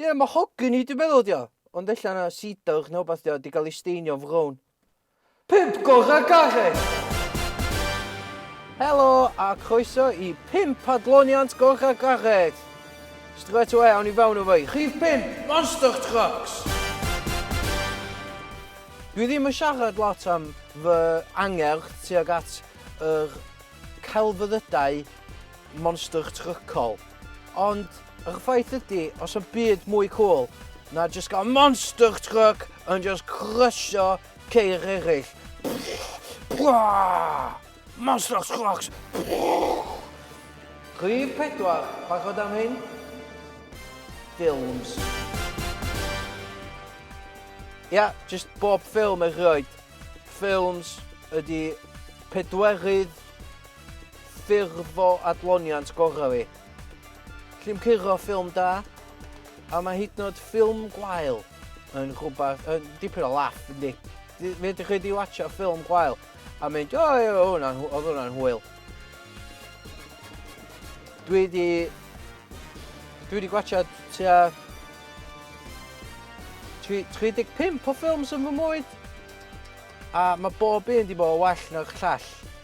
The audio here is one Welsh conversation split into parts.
Ie, mahogany dwi'n meddwl ydi o. Ond ella na cedar neu wbath 'di o, 'di gael ei steinio'n frown. Pump gorau Gareth! Helo a croeso i Pump Adloniant Gorau Gareth! Straight away awn i fewn efo i. Rhif pump, Monster Trucks! Dwi ddim yn siarad lot am fy angerdd tuag at yr celfyddydau monster truckol. Ond y ffaith ydy, os y byd mwy cool na just gael monster truck yn just crysio ceir eraill. Monster trucks! Rhif 4, barod am hyn? Films. Ia, yeah, just bob ffilm erioed. Films ydy pedwerydd ffurf o adloniant gorau fi. Llym curo ffilm da, a mae hyd nod ffilm gwael yn rhywbeth, yn dipyn o laff, yndi. Fe ydych chi wedi watcha ffilm gwael a mynd, o, oh, oh, hwnna'n, oedd hwnna'n hwyl. Dwi wedi... Dwi wedi gwatcha tua... 35 o ffilms yn fy mywyd. A mae bob un wedi bod yn well na'r llall.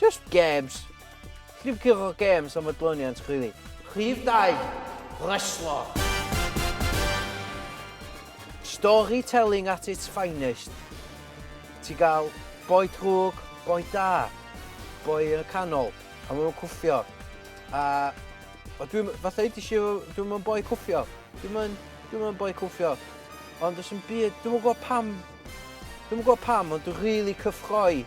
Just games. Llif cych o games am y dlyniant, chwili. Llif dau, reslo. Story telling at its finest. Ti gael boi trwg, boi da, boi yn y canol, a maen nhw'n cwffio. A, a dwi'n, fatha i ddysio, dwi'n mynd boi cwffio. Dwi'n mynd, dwi'n mynd boi cwffio. Ond dwi'n yn byd, dwi'n gwybod pam, dwi'n gwybod pam, ond dwi'n rili really cyffroi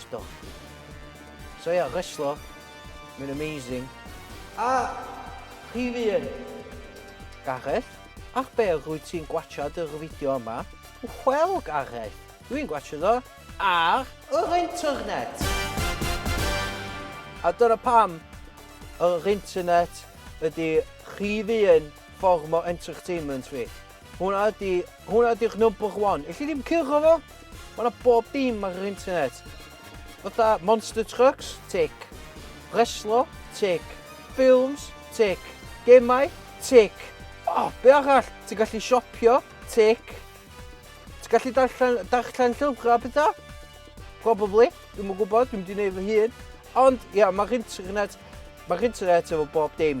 Stop. So ia, reslo, mae'n amazing. A chi fyr? Gareth, ar be rwy ti'n gwachad yr fideo yma? Wel, Gareth, dwi'n gwachad o ar yr internet. A dyna pam yr internet ydy chi fyr? Ffordd mor entertainment fi. Hwna ydi, hwna ydi'r number one. Elli ddim cyrro fo? Mae yna bob dim ar yr internet. Fytha monster trucks, tic. Reslo, tic. Ffilms, tic. Gemau, tic. O, oh, be arall? Ti'n gallu siopio, tic. Ti'n gallu darllen, darllen llyfrau bethau? Probably, dwi'n mwyn gwybod, dwi'n mynd i wneud fy hun. Ond, ia, yeah, mae'r internet, mae'r internet efo bob dim.